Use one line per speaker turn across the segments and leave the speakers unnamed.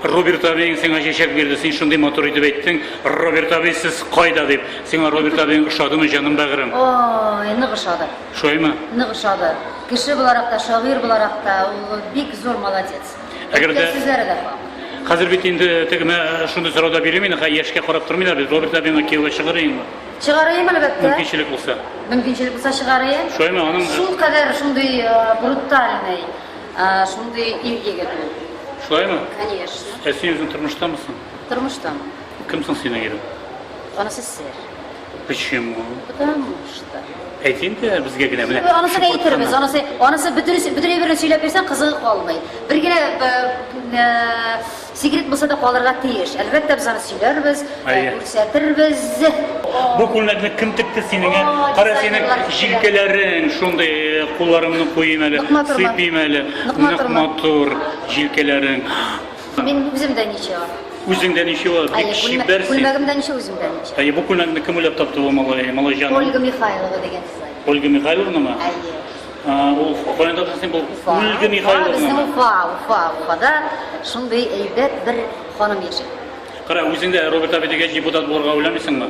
Роберт абиең сиңа чәчәк бирде, син шундый матур итеп әйттең. Роберт абый сез кайда дип. Сиңа Роберт абиең ошадымы, җаным бәгырем? Ой, нык ошады. Шулаймы? Нык ошады. Кеше буларак та, шагыйрь буларак та ул бик зур молодец. Әгәр дә сүзләре дә факт. Хәзер бит инде тегемә шундый сорау да бирмим инде, яшькә карап тормыйлар бит. Роберт абиңа кияүгә чыгыр инде. Чыгарыйм, әлбәттә. Мөмкинчелек булса. Мөмкинчелек булса чыгарыйм. Шулаймы аның? Шул кадәр шундый э, брутальный, э, шундый ир егет ул. Шулаймы? Конечно. Ә син үзең тормыштамысың? Тормыштан. Кем соң синең ирең? Анысы сер. Почему? Потому что. Әйт инде безгә генә менә. Анысы да әйтербез, шупыртканы. анысы, анысы бөтен бөтен әйберне сөйләп бирсәң кызыгы калмый. Бер генә э, э, Секрет булса да калырга тиеш. Әлбәттә, без аны сөйләрбез, Әйе. күрсәтербез. Бу күлмәкне кем текте синеңә? Ой, Кара синең дизайнерлар кеше. җилкәләрең шундый э, кулларымны куйыйм әле, Ныкма торма. сыйпыйм әле. Ныкма Нык торма. матур җилкәләрең. Мин үзем дә ничего. Үзең дә ничего, бик Әйе, күлмә- чибәр син. күлмәгем дә ничего, үзем дә ничего. Әйе, бу күлмәкне кем уйлап тапты бу малай, малай җаным? Ольга Михайлова дигән дизайнер. Ольга Михайловнамы? Әйе. Ул Украинада хәзер бу Ольга Михайловна. Безнең Уфа, Уфа, Уфада шундый әйбәт бер ханым яши. Кара, үзең дә Роберт абый дигәч депутат булырга уйламыйсыңмы?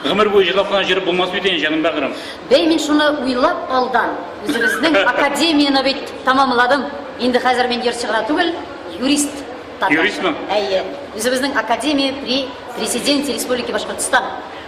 Гомер буе җырлап кына җырып булмас бит инде, җаным бәгырем. Бәй, мин шуны уйлап алдан, үзебезнең академияне бит тәмамладым. Инде хәзер мин җырчы гына түгел, юрист. Юристмы? Әйе. Үзебезнең академия при президенте Республики Башкортстан.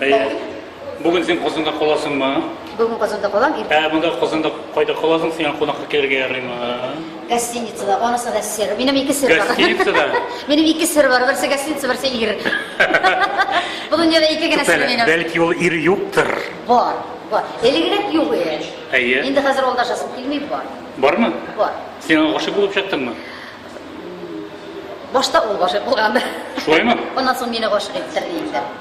Әйе. Бүген син Казанда каласыңмы? Бүген Казанда калам. Ә монда Казанда кайда каласың? Сиңа кунакка килергә ярыймы? Гостиницада, анысы да сер. Минем ике сер бар. Гостиницада? Минем ике сер бар. Берсе гостиница, берсе ир. Бу дөньяда ике генә сер минем. Бәлки ул ир юктыр. Бар. Бар. Элегрәк юк иде. Әйе. Инде хәзер ул да шасып килми бар. Бармы? Бар. Син аңа гашык булып чыктыңмы? Башта ул гашык булган. Шулаймы? Аннан соң мине гашык иттерде инде.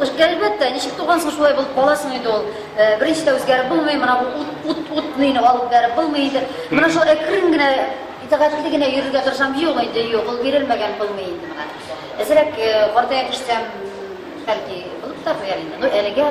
Кышкы, әлбәттә, ничек туган соң шулай булып кала соң инде ул. Беренче дә үзгәреп булмый, мына бу ут, ут, ут нейне алып бәреп булмый инде. Мына шул әкрен генә, итагатьле генә йөрергә тырышам, юк инде, юк, ул бирелмәгән булмый инде мына. Әзрәк картая төшсәм, бәлки, булып та куяр инде. Ну, әлегә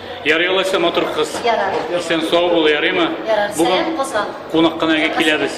Ярый алайса, матур кыз. Ярар. Исән сау бул, ярыймы? Ярар. Бүген Сәлам Казан. кунак кына әйгә киләбез.